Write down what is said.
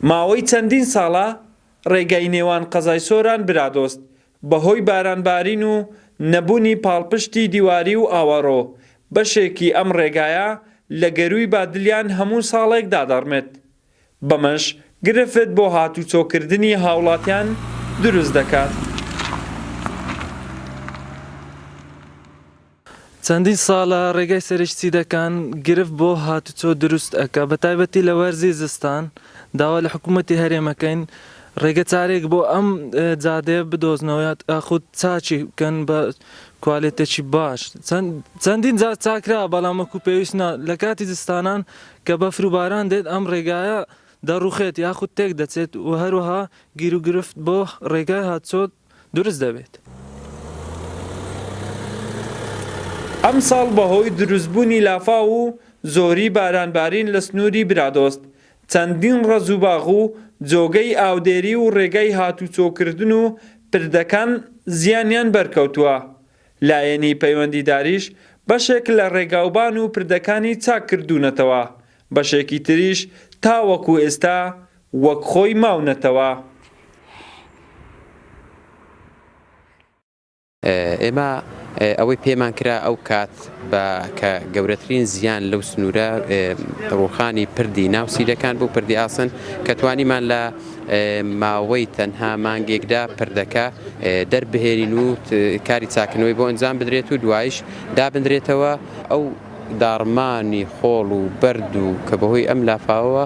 ماوەی چەندین ساڵە ڕێگای نێوان قەزای سۆران برادۆست بە هۆی باران بارین و نەبونی پاڵپشتی دیواری و ئاوەڕۆ بەشێکی ئەم ڕێگایە لە گەروی بادلیان هەموو ساڵێک دادەڕمێت. بەمەش گرفت بۆ هاتوچۆکردنی هاوڵاتیان دروست دەکات. چەندین ساڵە ڕێگای سەرێکی چیدەکان گرفت بۆ هاتوچۆ دروست ئەکا بەتایبەتی لە وەرزی زستان، داوا لە حکومەتی هەرێم ئەکەین ڕێگە چارەیەک بۆ ئەم جادەیە بدۆزنەوە یاخود چاکی بکەن بە کوالێتێکی باش چەندین جار چاکرا بەڵام وەکو پێویست نا لە کاتی زستانان کە بەفر و باران دێت ئەم ڕێگایە دەڕوخێت یاخود تێک دەچێت و هەروەها گیروگرفت بۆ ڕێگای هاتچۆ دروست دەبێت. ئەمساڵ بەهۆی دروستبوونی لافاو و زۆری بارانبارین لە سنووری برادۆست، چەندین ڕەز و باغ و جۆگەی ئاودێری و ڕێگای هاتوچۆکردن و پردەکان زیانیان بەرکەوتووە لایەنی پەیوەندیداریش بەشێک لە ڕێگاوبان و پردەکانی چاک کردوونەتەوە، بەشێکی تریش تاوەکو ئێستا وەک خۆی ماونەتەوە. ئێمە ئەوەی پێمان کرا ئەو کات. بە کە گەورەترین زیان لەو سنوورە ڕووخانی پردی ناو سیرەکان بوو پردی ئاسن کە توانیمان لە ماوەی تەنها مانگێکدا پردەکە دەربهێنین و کاری چاکنەوەی بۆ ئەنجام بدرێت و دوایش دابدرێتەوە ئەو داڕمانی خۆڵ و بەرد و کە بەهۆی ئەم لافاوەوە